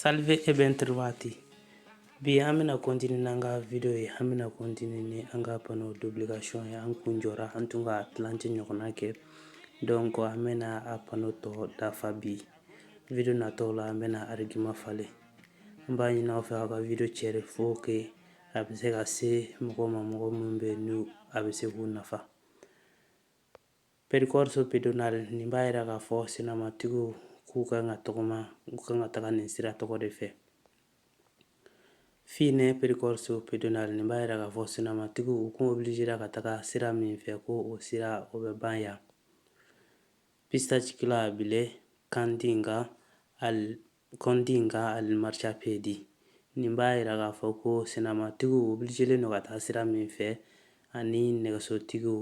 Salve e ben trovati. Bi an bɛna kontini n'an ka video ye an bɛna kontini ni an ka pano d'obligation ye an kun jɔra an tun k'a tilancɛ ɲɔgɔnna kɛ donc an bɛna a pano tɔ dafa bi video natɔw la an bɛna argument falen an b'a ɲini aw fɛ aw ka video cɛri pour que a bɛ se ka se mɔgɔ ma mɔgɔ minnu bɛ n'a bɛ se k'u nafa Percorso pedonale, nin b'a jira k'a fɔ senamatigiw k'u ka kan ka tɔgɔma, u ka kan ka taga nin sira tɔgɔ de fɛ. Fine percorso pedonale, nin b'a jira k'a fɔ senamatigiw u kun obilijera ka taga sira min fɛ ko o sira o bɛ ban yan. Pista ciclabile, contigua al, Contigua al marciapiede. Nin b'a jira k'a fɔ ko senamatigiw obilijelen don ka taa sira min fɛ ani nɛgɛsotigiw,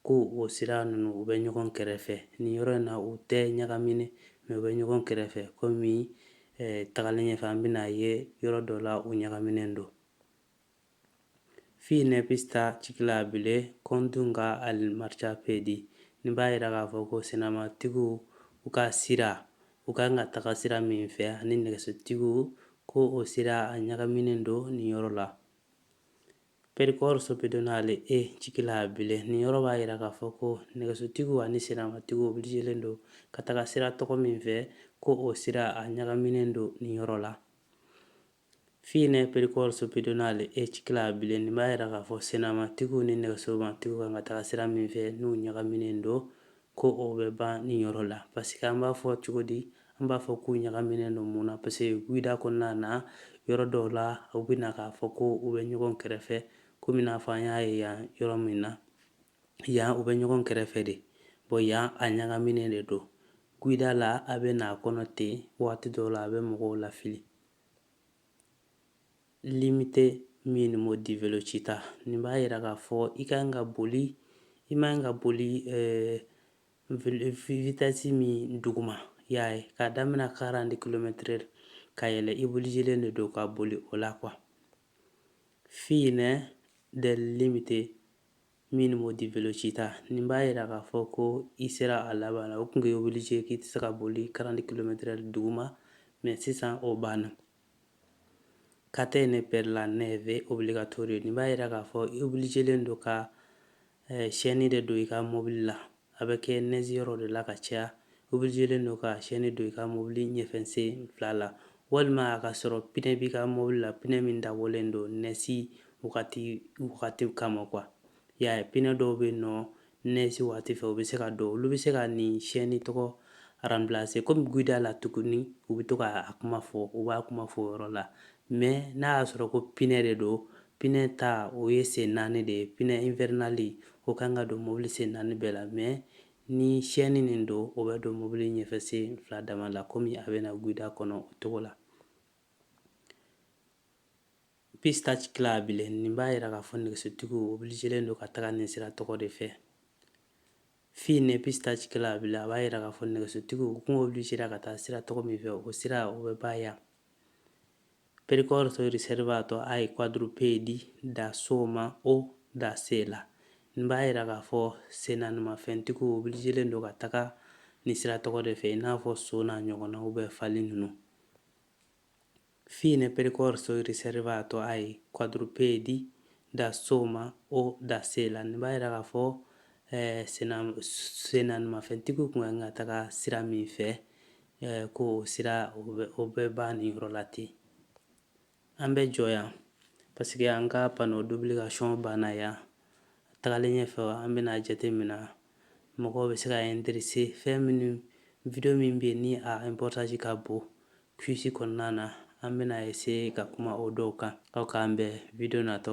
ko o sira ninnu u bɛ ɲɔgɔn kɛrɛfɛ. Nin yɔrɔ in na u tɛ ɲagaminen, mais u bɛ ɲɔgɔn kɛrɛfɛ komi tagalen ɲɛfɛ an bɛna a ye yɔrɔ dɔ la u ɲagaminen don. Fine pista ciclabile contigua al marciapiede. Nin b'a jira k'a fɔ ko senamatigiw u ka sira, u ka kan ka taga sira min fɛ ani nɛgɛsotigiw ko o sira a ɲagaminen don nin yɔrɔ la. Percorso pedonale e ciclabile, nin yɔrɔ b'a jira k'a fɔ ko nɛgɛsotigiw ani senamatigiw obilijelen don ka taga sira tɔgɔ min fɛ ko o sira a ɲagaminen don nin yɔrɔ la. Fine percorso pedonale e ciclabile nin b'a jira k'a fɔ sennamatigiw ni nɛgɛsomatigiw ka kan ka taga sira min fɛ n'u ɲagaminen don, ko o bɛ ban nin yɔrɔ la. Paseke an b'a fɔ cogo di? An b'a fɔ k'u ɲagaminen don mun na? Paseke guida kɔnɔna na, yɔrɔ dɔw la, u bɛ na k'a fɔ ko u bɛ ɲɔgɔn kɛrɛfɛ, komi i n'a fɔ an y'a ye yan yɔrɔ min na. yan u bɛ ɲɔgɔn kɛrɛfɛ de bon yan a ɲagaminen de don guida la a bɛ n'a kɔnɔ ten waati dɔw la a bɛ mɔgɔw lafili limite minimo di velocità nin b'a jira k'a fɔ i ka kan ka boli i man kan ka boli vitesse min duguma y'a ye k'a daminɛ quarante kilomɛtiri la ka yɛlɛ i obilijelen de don ka boli o la quoi fine del limite Minimo di velocità nin b'a jira k'a fɔ ko i sera a laban la o tun k'i obilije k'i tɛ se ka boli quarante kilomɛtiri duguma mais sisan o banna catene per la neve obbligatorio nin b'a jira k'a fɔ i obilijelen don ka chaîne de don i ka mɔbili la a bɛ kɛ neige yɔrɔ de la ka caya, obligelen don ka chaîne don i ka mobili ɲɛfɛsen fila la, walima a ka sɔrɔ pinɛ b'i ka mobili la, pinɛ min dabɔlen don neige wagati kama quoi i y'a ye, pinɛ dɔw bɛ yen nɔ neige wagati fɛ u bɛ se ka don, olu bɛ se ka nin chaîne tɔgɔ remplacer kɔmi guida la tuguni u bɛ to ka a kuma fɔ, u b'a kuma fɔ o yɔrɔ la, Mais n'a y'a sɔrɔ ko pinɛ de don, pinɛ ta o ye sen naani de ye, pinɛ invernale o kan ka don mobili sen naani bɛɛ la mais ni chaîne nin don, o bɛ don mobili ɲɛfɛ sen fila dama la komi a bɛna guida kɔnɔ o cogo la. Pista ciclabile, nin b'a jira k'a fɔ nɛgɛsotigiw obligelen don ka taga nin sira tɔgɔ de fɛ. Fine pista ciclabile a b'a jira k'a fɔ nɛgɛsotigiw kun obligera ka taa sira tɔgɔ min fɛ o sira o bɛ ban yan percorso riservato ai quadrupedi da soma o da sella nin b'a jira k'a fɔ sennaanimafɛntigiw obligelen don ka taga nin sira tɔgɔ de fɛ i n'a fɔ so n'a ɲɔgɔnnaw bɛɛ fali ninnu Fine percorso riservato ai quadrupedi da soma o da sella, nin b'a jira k'a fɔ sennaanimafɛntigiw tun ka kan ka taga sira min fɛ, ko o sira o bɛ ban nin yɔrɔ la ten. An bɛ jɔ yan parce que an ka panneau d'obligation banna yan. Tagalen ɲɛfɛ, an bɛna jatemina mɔgɔw bɛ se ka interesser fɛn minnu, video min bɛ yen ni a importance ka bon, Quiz kɔnɔna na, an bɛna essayer ka kuma o dɔw kan, aw k'an bɛn video natɔ.